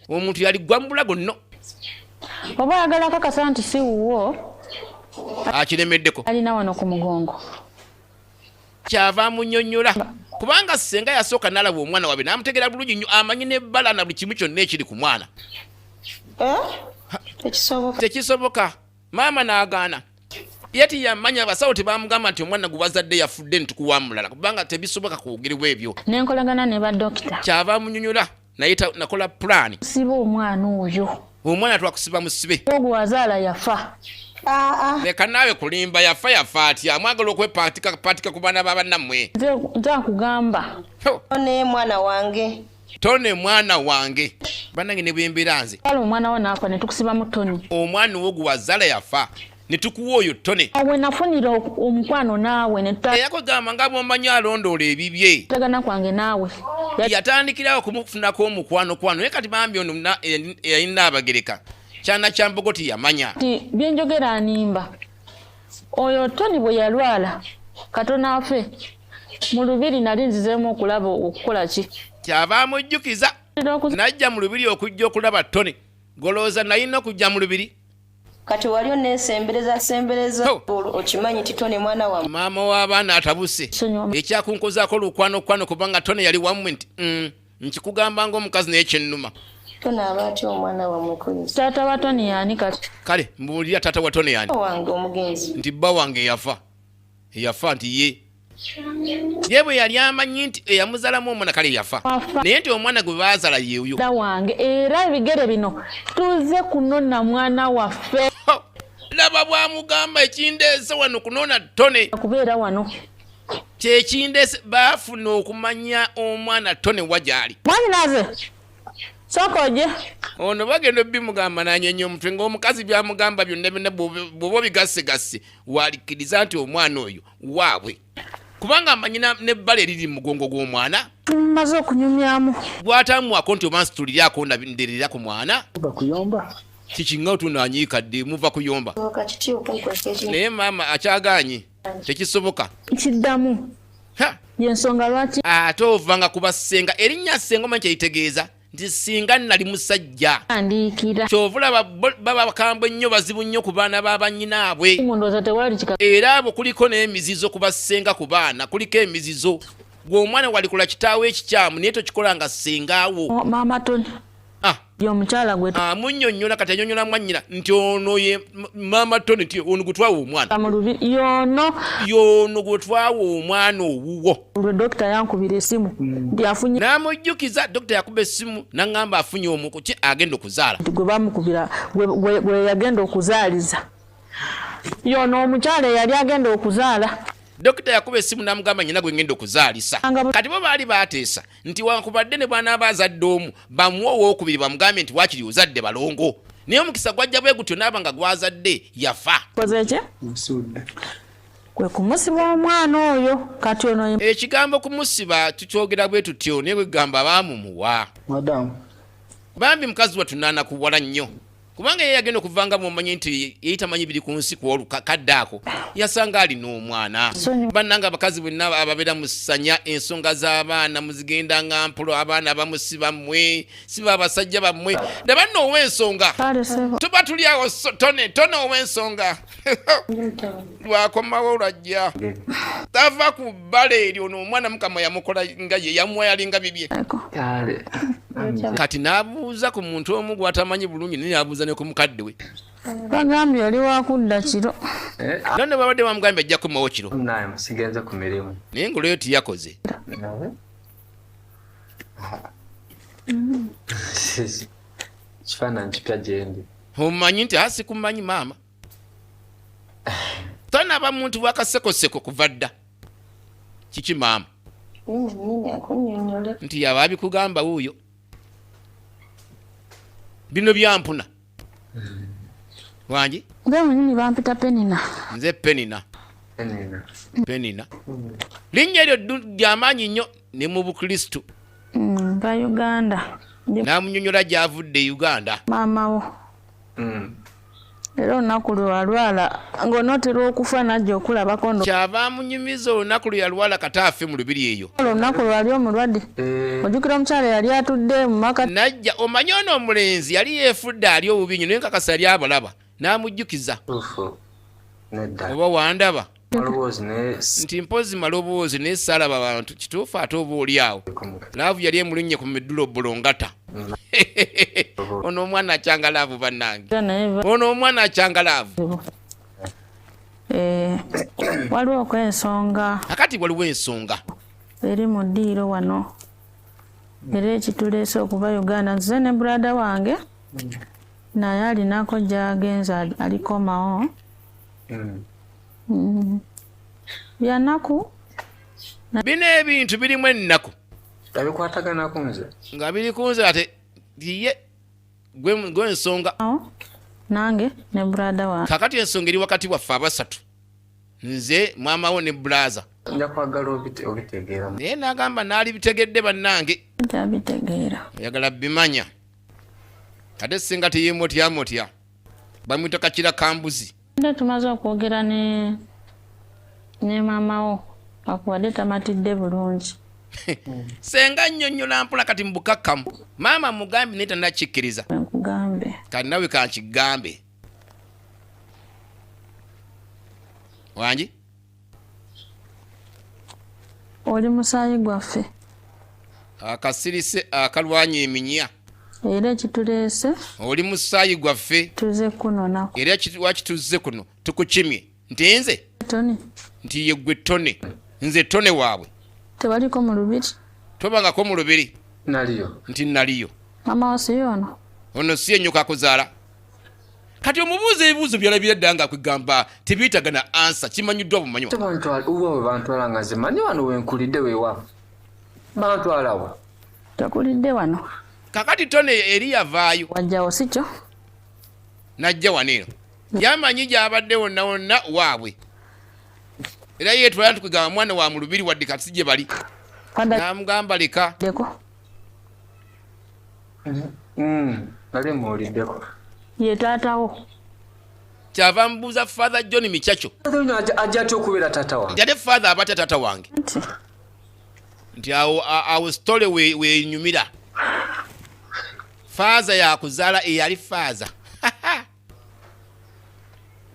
omuntu yali gwambula gonno oba ayagala kakasa nti si wuwo akiremeddeko alina wano ku mugongo kyava amunyonyola kubanga senga yasooka nalaba omwana wabe namutegera bulungi nyo amanyi nebbala na buli kimu kyonna ekiri ku mwana eh? tekisoboka maama nagaana yati yamanya abasawo tebamugamba nti omwana gwebazadde yafudde nitukuwa mulala kubanga tebisoboka kwogerwa ebyo nenkolagana ne badokita kyava amunyonyola naye nakola pulaani siba omwana oyo omwana twakusiba musibe ogwo wazaala yafa leka naawe kulimba yafa yafa atya amwagala okwepatika ku baana babanammwe nze nkugamba ne mwana wange tone mwana wange banange ne bwembeera nze kale omwana wo naafa ne tukusibamu toni omwana wo gwe wazala yafa ne tukuwa oyo tone awe nafunira omukwano naawe neyakugamba nga bwomanyi alondoola ebibye tagana kwange naawe yatandikirawo okumufunako omukwano kwano naye kati bambi ono yalina abagereka kyana kyambogo tiyamanya ti byenjogera animba oyo toni bwe yalwala katona afe mu lubiri nali nzizeemu okulaba okukola ki kyava amujjukiza najja mu lubiri okujja okulaba toni golowooza nalina okujja mu lubiri kati wali onesembereza sembereza okimanyi ti tone mwana wa maama w'abaana atabuse ekyakunkozaako lukwano kwano kubanga tone yali wamwe nti mm, nkikugamba ngaomukazi naye kyennuma tone aba atya omwana wamukuzi taata wa tone yani kati kale mbuulira taata wa tone yani wange omugenzi nti bba wange yafa eyafa nti ye ye bwe yali amanyi nti eyamuzalamu omwana kale yafa naye nti omwana gwe baazala yeuyo wange era ebigere bino tuze kunona mwana waffe laba bwamugamba ekindeese wano kunona tone kubeera wano kyekindeese baafuna okumanya omwana tone wa gyali mwanyinaze sokoje ono bagenda obimugamba nanyenye omutwe ngaomukazi byamugamba byonna byonna bwoba obigassegasse waalikkiriza nti omwana oyo waabwe kubanga amanyi nebbala eriri mu mugongo gw'omwana maze okunyumyamu gwatamuwako nti oba nsitulirako nderera ku mwana bakuyomba kikinga otunanyiika ddi muva kuyomba naye maama akyaganye tekisoboka kiddamu yensonga lwaki ate ovanga kubasenga erinnya senga omanyi kyeyitegeeza nti singa nali musajja kyovulaba baba bakambwe nnyo bazibu nnyo ku baana ba banyinaabwe era abo kuliko n'emizizo ku bassenga ku baana kuliko emizizo gwe omwana walikola kitaawo ekikyamu naye tokikola nga ssengaawo oh, ah. yomukyala gwe ah, munyonyola kati anyonyola mwanyina nti ono ye mama tony nti ono gwetwawa omwana yono yono gwetwawa omwana owuwo dokita yankubira esimu hmm. nti afunye namujjukiza dokita yakuba esimu nangamba afunye omuku ki agenda okuzaala gwe bamukubira gwe yagenda okuzaaliza yono omukyala eyali agenda okuzaala dokita yakuba esimu namugamba nyina gwe ngenda okuzaalisa kati bo baali bateesa nti wankubadde ne bwanaaba azadde omu bamuwa owokubiri bamugambye nti wakiri ozadde balongo naye omukisa gwajja bwe gutyo naaba nga gwazadde yafa kwe kumusiba omwana oyo kati ono ekigambo kumusiba tukyogera bwe tutyo naye bwegamba baamumuwa madamu bambi mukazi wattu naanakuwala nnyo kubanga ye yagenda okuvanga mumanye nti yeyita manyi biri ku nsi kwolukakadde ako yasanga alina omwana bannanga abakazi bonna ababeera musanya ensonga z'abaana muzigenda nga mpulo abaana abamusi bammwe siba abasajja bammwe nabanna ow'ensonga tuba tuli awo tone tone ow'ensonga lwakomawo lwajja tava ku bbala eryo noomwana mukama yamukola nga ye yamwayalinga bibye kati n'abuuza ku muntu omu gwatamanyi bulungi naye abuuza ne ku mukadde we bagambye oli wakudda kiro eh, no ne babadde bamugambye ajja kumawo kiro sigenze ku mirimu naye ngaolweyo tiyakoze kifaananyi kipya gyendi omanyi nti asikumanyi ah, maama tanaba muntu bwakasekoseko kuva dda kiki maama nti yaba abikugamba wuuyo bino byampuna wangi benyini bampita penina nze penina penina linnya eryo lyamaanyi nnyo ne mu bukristu mm, nga uganda namunyonyola gyavudde e uganda maamawo mm. era olunaku lweyalwala ngaonootera okufa najja okulabako kyava amunyumiza olunaku lweyalwala kata afe mu lubiri eyo olunaku lwali omulwadde mm. ojukira omukyala yali atudde mumaka najja omanye ono omulenzi yali yefudde ali obubi nyo naye nkakasa yali abalaba n'amujjukiza oba wandaba nti mpozi maloboozi naye saalaba bantu kituufu ate oba oli awo laavu yali emulunnye ku midulo bulongata ono omwana akyanga laavu bannange ono omwana akyanga laavu eh, waliwo okwensonga akati waliwo ensonga eri mu ddiiro wano era ekituleese okuba uganda nzize ne brada wange naye alinako gyagenze alikomawo mm. mm. byanaku bino ebintu birimu ennaku nga bikwataganako nze nga biri ku nze ate ye gwe nsonga nange ne brada wa kakati ensonga eri wakati waffe abasatu nze mwama wo ne bulaza nja kwagala obitegeera naye nagamba naali bitegedde bannange oyagala bimanya ate singa teyemotyamotya bamwita kakira kambuzi nda tumaze okwogera ne ne maamawo akuwadde tamatidde bulungi senga nnyonnyola mpola kati mu bukakkamu maama mugambe naye tanakikkiriza kati nawe kankigambe wangi oli musaayi gwaffe akasirise akalwanya eminya era ekituleese oli musaayi gwaffe tuze kunonako era lwaki tuzze kuno tukukimye nti nze tone nti yeggwe tone nze tone waabwe tebaliko mu lubiri tobangako mu lubiri naliyo nti naliyo mama wasiyo ono ono si enyoko akuzaala kati omubuuza ebibuuzo byalabira dda nga kwegamba tebiyitaga na ansa kimanyiddwa bumanywa uba webantwala nga nze manyi wano wenkulidde wewa bantwalawo tokulidde wano kakati tone eri yavaayo wajjawo sikyo najja wano eno yamanyi gyabadde wonna wonna waabwe era yetwala nti kwegamba mwana wa mulubiri wadde kati si gye bali namugamba leka nali mm, muwuliddeko ye taatawo kyava mbuuza father john micaco ajja atya okubeera taata wange jade father aba atya taata wange nti awo awo story wenyumira we faaza yakuzaala eyali faaza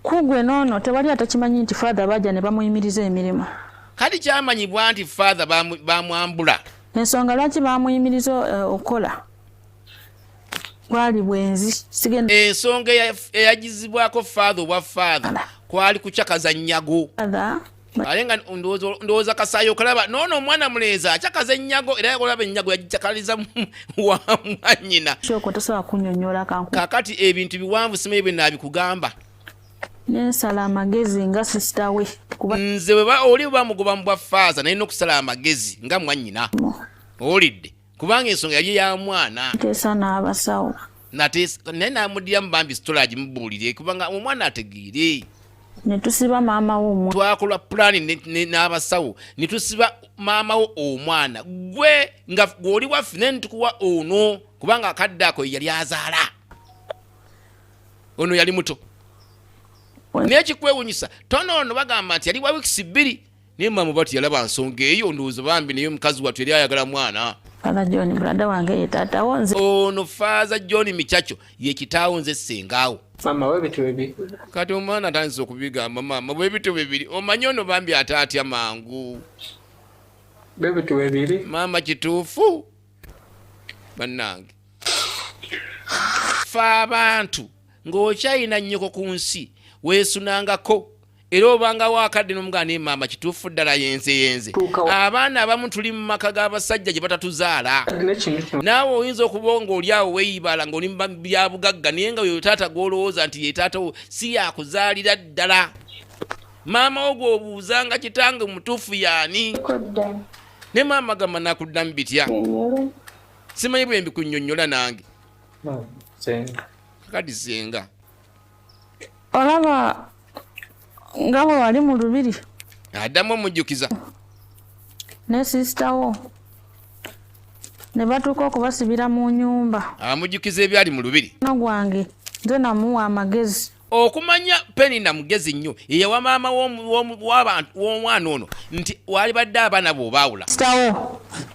kugwe noono tewali atakimanyi nti father baja ne bamuyimiriza emirimu kati kyamanyibwa nti father bamwambula ensonga lwaki bamuyimiriza eh, okukola kwali bwenzi sigenda ensonga eyagizibwako father obwa father kwali kucakaza nyago ale nga ndowooza kasaayi okalaba noono omwana mulenzi akyakaza ennyago era yakolaba ennyago yagikyakaliza wa mwanyina kyoko tosobola kunyonyola kanku kakati ebintu biwanvu simanyi bwe naabikugamba nensala amagezi nga sisita we kuba nze oli bamugoba mu bwa faaza naye nokusala amagezi nga mwanyina owulidde kubanga ensonga yali ya mwana teesa n'abasawo nateesa naye namudiramu bambi sitola agimubuulire kubanga omwana ategeere netusiba maama wo twakola pulaani n'abasawo netusiba maama wo omwana gwe nga gweoli waffe naye netukuwa ono kubanga akadde ako yeyali azaala ono yali muto naye kikwewunyisa tono ono bagamba nti yali wa wikisi bbiri naye maama bati yalaba nsonga eyo ndowooza bambi naye omukazi wattu yali ayagala mwana Father John brada wange ye taata wo nze. Ono Father John Michacho ye kitaawo nze sengaawo. Mama we bitu bibi. Kati omwana atandise okubigamba mama we bitu bibiri omanyi ono bambi ataatya mangu. Be bitu bibiri. Mama kituufu bannange fa abantu ng'okyayina nnyoko ku nsi weesunangako era obanga wakadde nomugaa naye maama kituufu ddala yenze yenze abaana abamu tuli mu maka g'abasajja gye batatuzaala naawe oyinza okuba nga oli awo weyibala ngaoli mubyabugagga naye nga oyo taata gwolowooza nti yetaatawo si yakuzaalira ddala maama wo gwobuuza nga kitange mutuufu yaani ne maama gamba nakuddamu bitya simanyi bwembikunyonyola nange kadi senga olaba nga bwe wali mu lubiri addamu omujjukiza ne sisita wo ne batuuka okubasibira mu nyumba amujjukiza ebyali mu lubiri na gwange nze namuwa amagezi okumanya penina mugezi nnyo yeyawa maama w'omwana ono nti walibadde abaana bwe obaawula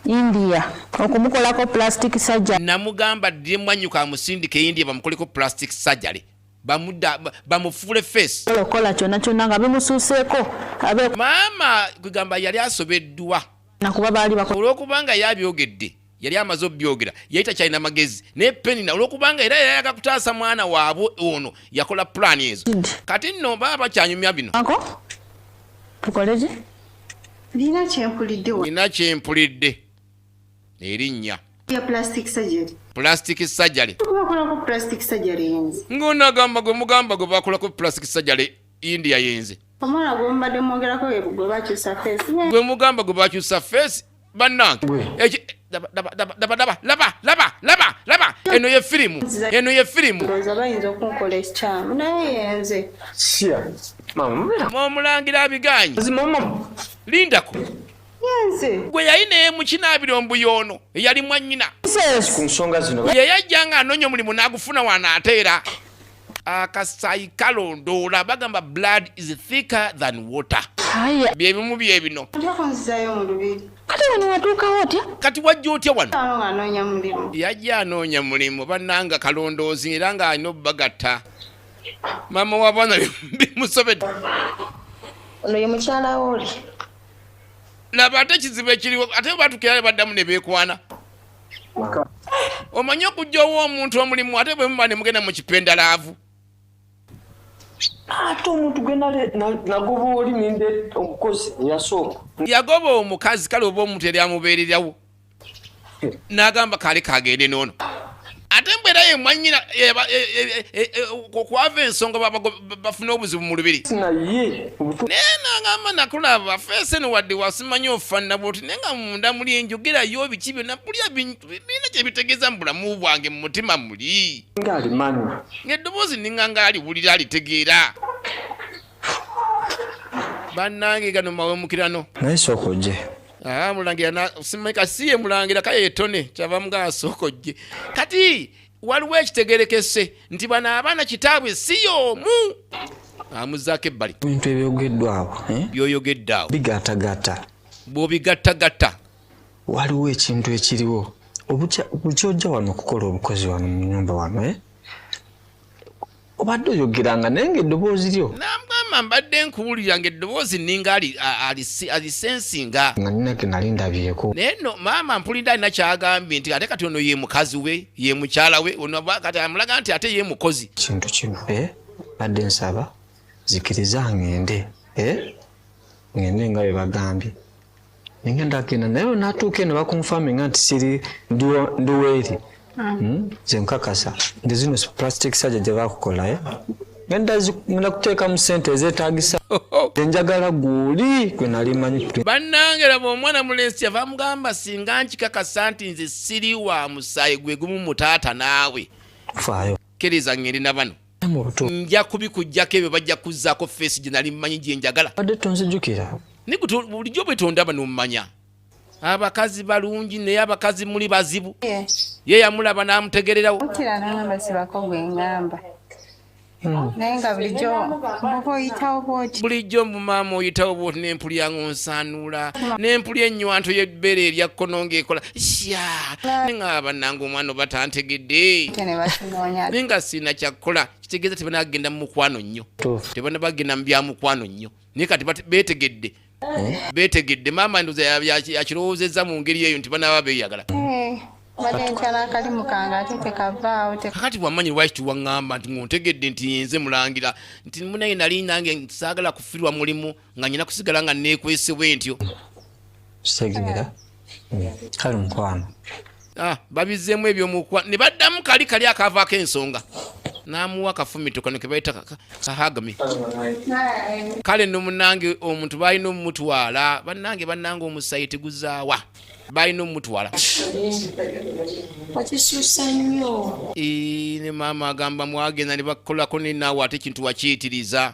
India okumukolako plastic surgery. Namugamba ddi mwanyuka amusindike e India bamukoleko plastic surgery bamuda bamufuule face kola kyona kyona nga bimusuuseeko abe maama kwegamba yali asobeddwa nakuba baali bako olwokubanga yabyogedde yali amaze obyogera yali takyalina magezi naye penina olwokubanga era yayaga kutaasa mwana waabwe ono yakola pulaani ezo kati nno baba bakyanyumya bino tukoleki nina kyempulidde nina kyempulidde erinnya ya plastic surgery plastic surgery tubakolako plastic surgery yenze ngona gamba gwe mugamba gwe bakolako plastic surgery india yenze omwana gwe mubadde mwogerako gwe bakyusa face gwe mugamba gwe bakyusa face bannange laba eno ye firimu eno ye firimu omulangira abigaanyi lindako gwe yali naye mukinaabiro mbuyo ono eyali mwanyina yeyajja nga anoonya omulimu n'agufuna wano ate era akasayi kalondoola bagamba blood is thicker than water byebimu byebino kati wajja otya wano yajja anoonya mulimu bananga kalondoozi era nga alina obubagatta mama wabana bimusobedde ono ye mukyala woli laba ate ekizibu ekiriwo ate batukirale baddamu nebekwana omanyi okujja owa omuntu omulimu ate bwe muba ne mugenda mu kipenda laavu ate omuntu gwe nagoba oli ninde omukozi yasooka yagoba omukazi kale oba omuntu yali amubeererawo n'agamba kaali kagende noono ate mbeera ye mwanyina okwava ensonga bafuna obuzibu mu lubiri naye nagamba nakulaba feese no wadde wasimanya ofanna bwoti naye nga munda muli enjogerayo biki byona bulya bintu birina kyebitegeeza mu bulamu bwange mu mutima muli ngaalimanywa ngaeddoboozi ninga nga aliwulira alitegeera bannange gano mawemukirano naye sooka ojje ah, mulangira simanyika siye mulangira kaye etone kyava mugaasookojje kati waliwo ekitegerekese nti bano abaana kitaabwe si y'omu amuzaako ebbali ebintu ebyogeddwawo eh? byoyogedde awo bigatagata bwobigattagatta waliwo ekintu ekiriwo obukyojja wano okukola obukozi wano mu nyumba wano eh? obadde oyogeranga naye nga eddoboozi lyo namugamba mbadde nkuwulira nga eddoboozi ninga alisensinga nga ninage nali ndabyeko naye no maama mpulidde alina kyagambye nti ate kati ono ye mukazi we ye mukyala we kati amulaga nti ate ye mukozi kintu kino e eh, badde nsaba zikiriza ngende e eh, ngende nga bye bagambye nengenda genda naye natuuka eno bakunfaminga nti siri ndiweeri hmm. hmm? nze nkakasa nti zino plastic saja gye bakukola eh? ngenda kuteeka mu sente ezetagisa enjagala gwoli gwe nali manyi bannange laba omwana mulensi kyava amugamba singa nkikakasa nti nze siri wa musaayi gwe gumu mutaata naawe faayo kkiriza ngeri na bano nja kubikugyako ebyo bajja kuzzaako feesi gye nali mmanyi gye njagala bulijjo bwetondaba nomumanya abakazi balungi naye abakazi muli bazibu ye yamulaba n'amutegererawo hmm. naye nga bulijjo muba oyitawo bwoti bulijjo mumaama oyitawo bwoti nempulya nga onsanuula nempulya ennywanto y'ebbeere eryakkono ng'ekola sya ne nga bannanga omwana oba tantegedde naye nga sirina kyakukola kitegeeza tebana bagenda mu mukwano nnyo tebana bagenda mu bya mukwano nnyo naye kati beetegedde eh? beetegedde maama ndoza yakirowoozezza mu ngeri eyo nti banaaba beeyagala eh, kakati bwamanyi lwaki tiwaŋŋamba nti ngontegedde nti yenze mulangira nti munaye nali nange saagala kufirwa mulimu nga nyina kusigala nga nekwese bwentyo segera kale mukwano ah, babizeemu ebyomukwa ne baddamu kali kali akaavaako ensonga n'amuwa akafumito kano ke bayita kahagami kale no munange omuntu balina omumutwala bannange bannange omusayi teguzaawa balina omumutwala ne maama agamba mwagenda ne bakolako nenaawe ate ekintu wakiyitiriza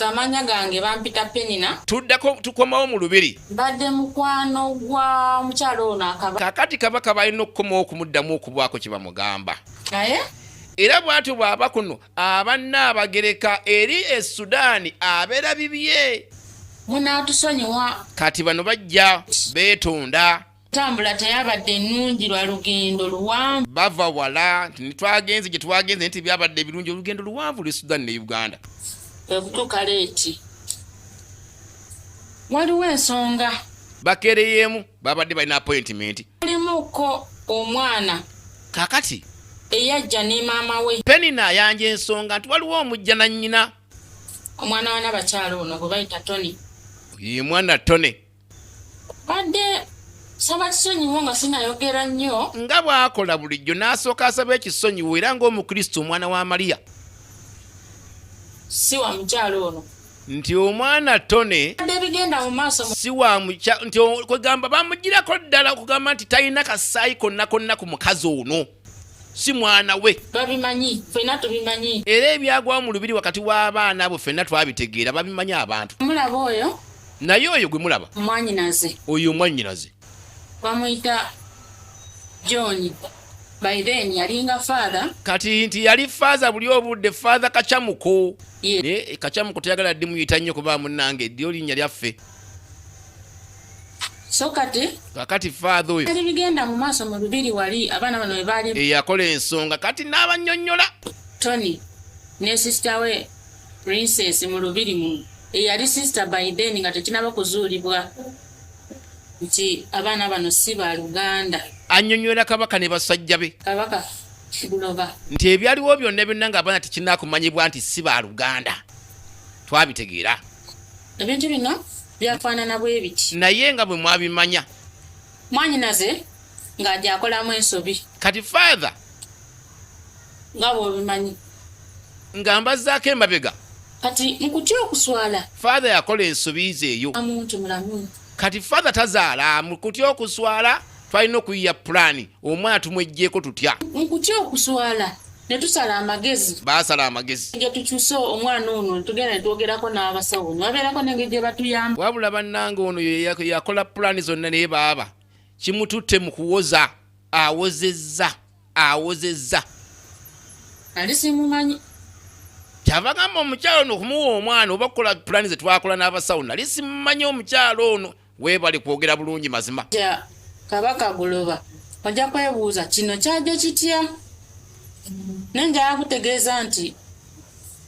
Amanya gange bampita Penina. Tuddako tukomawo mu lubiri. Mbadde mukwano gwa mukyala ono akaba. Kakati kabaka balina okukomawo okumuddamu okubwako kye bamugamba. Naye era bwatyo bwaba kuno abanna abagereka eri e Sudaani abeera bibye. Munaatusonyiwa. Kati bano bajja beetonda. entambula teyabadde nnungi lwa lugendo luwanvu bava wala nti netwagenze gye twagenze nti byabadde ebirungi olugendo luwanvu lwe sudani ne uganda ekutuuka leeti waliwo ensonga bakereyeemu babadde balina apointimenti mulimuko omwana kakati eyajja ne maama we penina ayanja ensonga nti waliwo omujja na nnyina omwana wana bakyalo ono gwe bayita tony ye mwana tony badde saba kisonyiwo nga sinayogera nnyo nga bw'akola bulijjo n'asooka asaba ekisonyiwo era ng'omukristo omwana wa maliya si wa mukyalo ono nti omwana tone si wa mukya nti kwegamba bamugirako ddala okugamba nti talina kasaayi konna konna ku mukazi ono si mwana we babimanyi fena tubimanyi era ebyagwawo mu lubiri wakati w'abaana abo fenna twabitegeera babimanyi abantu mulaba oyo naye oyo gwe mulaba mwanyinaze oyo mwanyinaze bamuyita john by then yalinga father kati nti yali father buli obudde father kacamuko yeah. ne kacamuko teyagala ddi muyita nnyo kuba munange ddi olinya lyaffe so kati kakati faadha oyo ali bigenda mu maaso mu lubiri wali abaana bano webaali eyakola ensonga kati n'abanyonyola tony ne sisita we princess mu lubiri mu eyali sisita biden nga tekinaba kuzuulibwa nti abaana bano si ba luganda anyonyola kabaka ne basajja be kabaka buloba nti ebyaliwo byonna byonna ng'abaana tekinakumanyibwa nti si ba luganda twabitegeera ebintu bino byafaanana bwe biti naye nga bwe mwabimanya mwanyinaze nga gyakolamu ensobi kati father nga bwobimanyi nga mbazaako emabega kati mukutya okuswala father yakola ensobi ze eyo amuntu mulamu kati father tazaala mukutya okuswala twalina okuyiya pulaani omwana tumwejjeeko tutya nkutya okuswala ne tusala amagezi baasala amagezi gye tukyuse omwana ono tugenda netwogerako n'abasawo nebabeerako nenge gye batuyamba wabula bannanga ono yakola pulaani zonna naye baaba kimututte mu kuwoza awozezza awozezza ali simumanyi kyava gamba omukyalo ono okumuwa omwana oba kukola pulaani ze twakola n'abasawo nali simumanyi omukyalo ono Webale kwogera bulungi mazima. Ja kabaka guloba. Oja kwebuuza kino kyaje kitya? Nenja yakutegeeza nti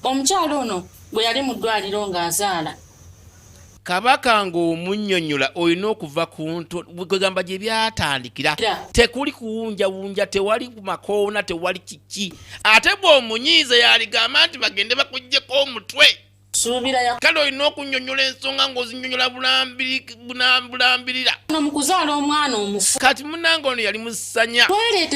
omukyalo ono gwe yali mu ddwaliro ng'azaala. Kabaka ng'omunnyonnyola olina okuva ku nto kwegamba gye byatandikira tekuli kuwunjawunja tewali makoona tewali kiki ate bw'omunyiize yaligamba nti bagende bakugyeko omutwe. kale olina okunyonyola ensonga ngaozinyonyola bulambirira mu kuzaala omwana omufu kati munange ono yali musanya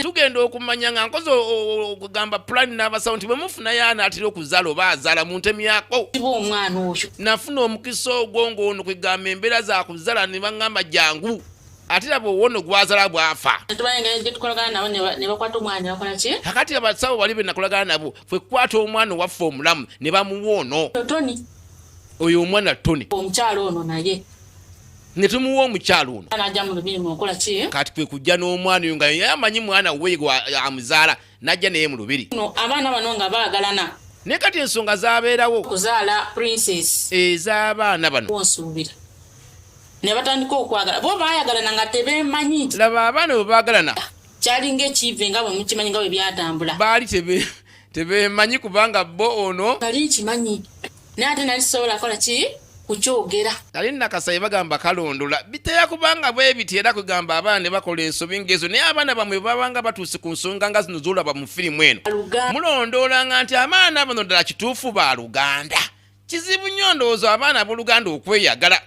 tugenda okumanya nga nkozi okugamba pulani n'abasawo nti bwe mufunayo anaatera okuzaala oba azaala mu ntemu yako omwana oyo nafuna omukisa ogwo ng'ono kwegamba embeera za kuzaala ne baŋŋamba jangu ate laba owono gwazala bwafa akati abasawo bali benakolagana nabo fwe kwata omwana owaffe omulamu ne bamuwa ono oyo omwana tony omukyalo ono naye netumuwa omukyalo ono kati kwe kujja n'omwana oyo nga ye amanyi mwana we amuzaala najja naye mu lubiri abaana bano nga baagalana naye kati ensonga zabeerawo okuzaala princess ez'abaana bano onsuubira ne batandika okwagala bo baayagalana nga tebeemanyi laba abaana bwe baagalana kyalinga ekiive nga bwe mukimanyi nga bwe byatambula baali tebemanyi kubanga bo ono nali nkimanyi naye ate nali sisobola kola ki kukyogera nali nakasaye bagamba kalondola biteya kubanga bwebiti era kugamba abaana ne bakola ensobi ngaezo naye abaana bamwe babanga batuuse ku nsonga nga zino zolaba mu firimu eno mulondoolanga nti amaana bano ddala kituufu ba luganda kizibu nnyo ndowooza abaana abooluganda okweyagala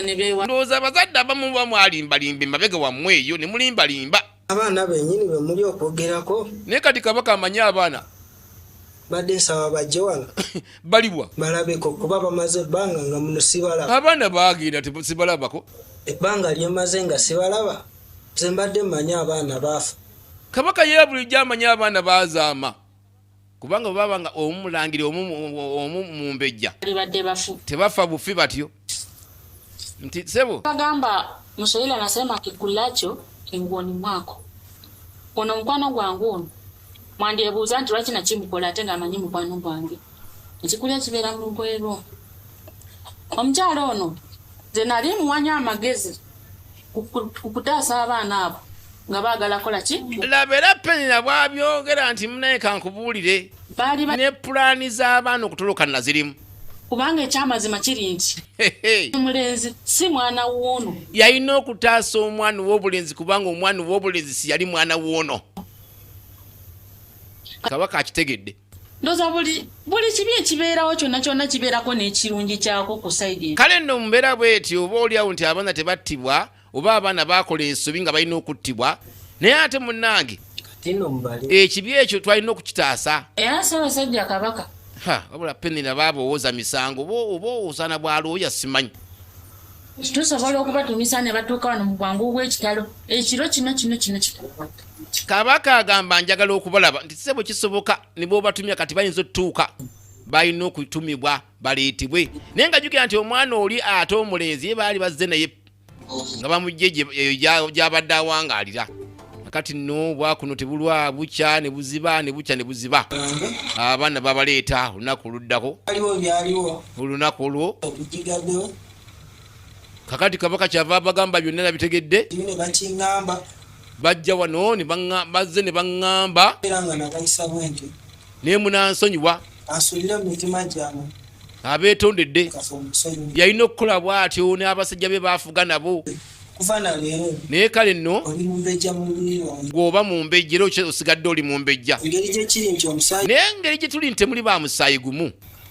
ndowooza abazadde abamu muba mwalimbalimba emabega wammwe eyo ne mulimbalimba abaana benyini be muli okwogerako naye kati kabaka amanyi abaana badde nsaba bajje wano balibwa balabeko kuba bamaze ebbanga nga muno sibalaba abaana baagenda sibalabako ebbanga lyemaze nga sibalaba ze mbadde mmanyi abaana baafa kabaka yebulijjo amanyi abaana baazaama kubanga bwebaba nga omu mulangira omu mumbejja tebafa bufi batyo nti sebo bagamba muswahili anasema kikulacho enguoni mwako ono mukwano gwange ono mwandyebuuza nti lwaki nakimukola ate ngaamanyi mukwano gwange ekikuli ekibeera mu lugoye lwo omukyalo ono nze nali muwanya amagezi kukutaasa abaana abo nga baagala kola ki laba era penina bwabyogera nti munaye kankubuulire ne pulaani z'abaana okutoloka nazirimu kubanga ekyamazima kiri nti omulenzi si mwana woono yalina okutaasa omwana w'obulenzi kubanga omwana w'obulenzi si yali mwana woono kabaka akitegedde ndoza buli buli kibi ekibeerawo kyonna kyonna kibeerako n'ekirungi kyako ku saidi kale nno mumbeera bweti oba oliawo nti abaana tebattibwa oba abaana bakola ensobi nga balina okuttibwa naye ate munnange ekibi ekyo twalina okukitaasa era ssabasajja kabaka wabula penina baaba owoza misango oba owozaana bwalooya simanyi tusobola okubatumisa ne batuuka wano mu bwangu obw'ekitalo ekiro kino kino kino kabaka agamba njagala okubalaba nti sebo kisoboka ne bwobatumya kati bayinza otutuuka balina okutumibwa baleetebwe naye nga jukira nti omwana oli ate omulenzi ye baali bazze naye nga bamugye gyabadde awangaalira kati no bwakuno tebulwa bukya ne buziba ne bukya ne buziba abaana babaleeta olunaku oluddako olunaku olwo kakati kabaka kyava abagamba byonna nabitegedde bajja wano bazze ne baŋŋamba naye munansonyiwa abeetondedde yalina okukola bw'atyo n'abasajja be baafuga nabo naye kale nno gweoba mu mbejja era osigadde oli mu mbejja naye ngeri gye tuli nti temuli ba musaayi gumu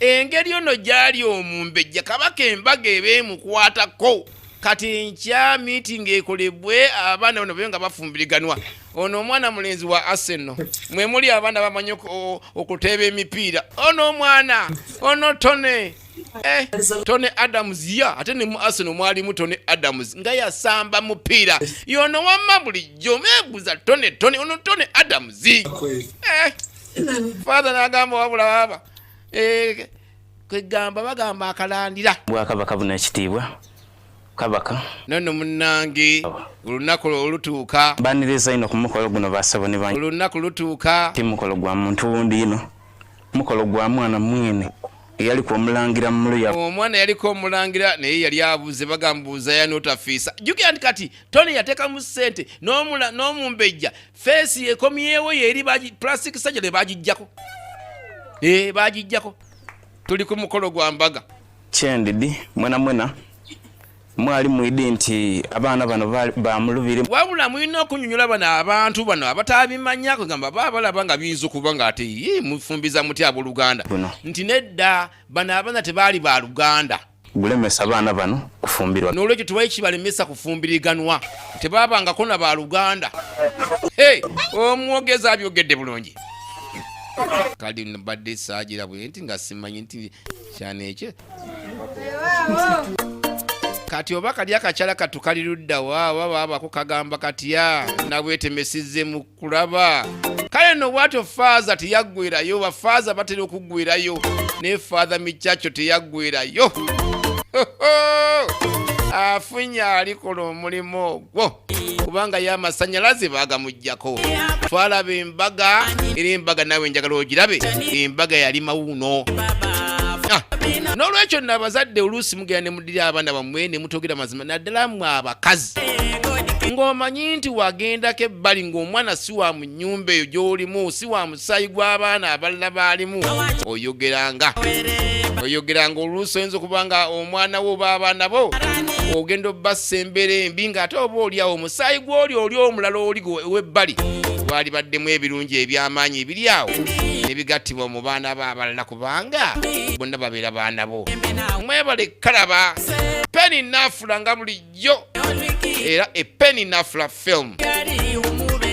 engeri ono gyali omumbejja kabaka embaga eba emukwatako kati enkya meeting ekolebwe abaana bano babe nga bafumbiriganwa ono omwana mulenzi wa arsenal mwe muli abaana bamanyi okuteeba emipiira ono omwana ono tone Eh, Tony Adams ya ate ne mu Arsenal mwalimu Tony Adams nga yasamba mupiira yono wamma bulijjo mebuza Tony Tony ono Tony Adams eh, father n'agamba wabula baba eh, kwegamba bagamba akalandira bwakabaka buna ekitiibwa kabaka nono munange olunaku olutuuka baniriza ino ku mukolo guno basaboni bange olunaku lutuuka ti mukolo gwa muntu wundi ino Mukolo gwa mwana mwene eyali ku omulangira mulu ya omwana yaliko omulangira naye yali abuze bagambuuza yanotafiisa jukira nti kati tony yatekamu sente n'omumbejja feesi ekomyewo yeri plastic sajale bagijjako ee eh, bagijjako tuli ku mukolo gwa mbaga kyendidi mwena mwena mwali mwidi nti abaana bano bamulubire wabula mulina okunyonyola bano abantu bano abatabimanya kwegamba baba balaba nga biyinza okuba nga ate yi mufumbiza muti aboluganda nti nedda bano abaana tebaali ba luganda gulemesa abaana bano kufumbirwa nolwekyo tewali kibalemesa kufumbiriganwa tebabangako na ba luganda hey, omwogezi abyogedde bulungi kali mbadde saagira bwe nti nga simanyi nti kyana ekyo kati oba kali akakyala katu kali luddawa oba baabako kagamba katya nabwetemesize mu kulaba kale no bwatyo faaza teyaggwerayo bafaaza batera okuggwerayo naye faaza mikyakyo teyaggwerayo afunye alikola omulimu ogwo kubanga ye amasanyalaze bagamugjako twalaba embaga era embaga nawe njagala ogirabe embaga yali mawuuno ah, n'olwekyo nno abazadde oluusi mugenda ne mudira abaana bammwe ne mutogera mazima naddala mwe abakazi ng'omanyi nti wagendako ebbali ng'omwana si wa mu nnyumba eyo gy'olimu si wa omusaayi gw'abaana abalala baalimu oyogeranga oyogeranga oluusi oyinza okuba nga omwana wo oba abaana bo ogenda obbassa embeera embi ng'ate oba oliawo omusaayi gw'oli oli omulala oli webbali gwali baddemu ebirungi eby'amaanyi ebiri awo nebigattibwa mu baana bo abalala kubanga bonna babeera baana bo mwebale kalaba peni naafula nga buli nnyo era epeni nafula film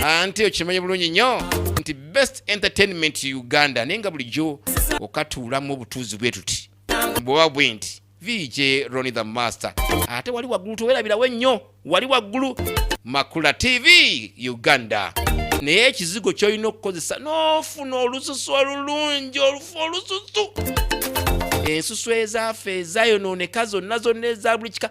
anti okimanyi bulungi nnyo nti best entertainment uganda naye nga bulijjo okatuulamu obutuuzi bwe tuti bwoba bwe nti vj roni the master ate wali waggulu tewerabirawo ennyo wali waggulu makula tv uganda naye ekizigo kyolina okukozesa n'ofuna olususu olulungi olufu olususu ensusu ezaafe ezayonooneka zonna zonna eza buli kika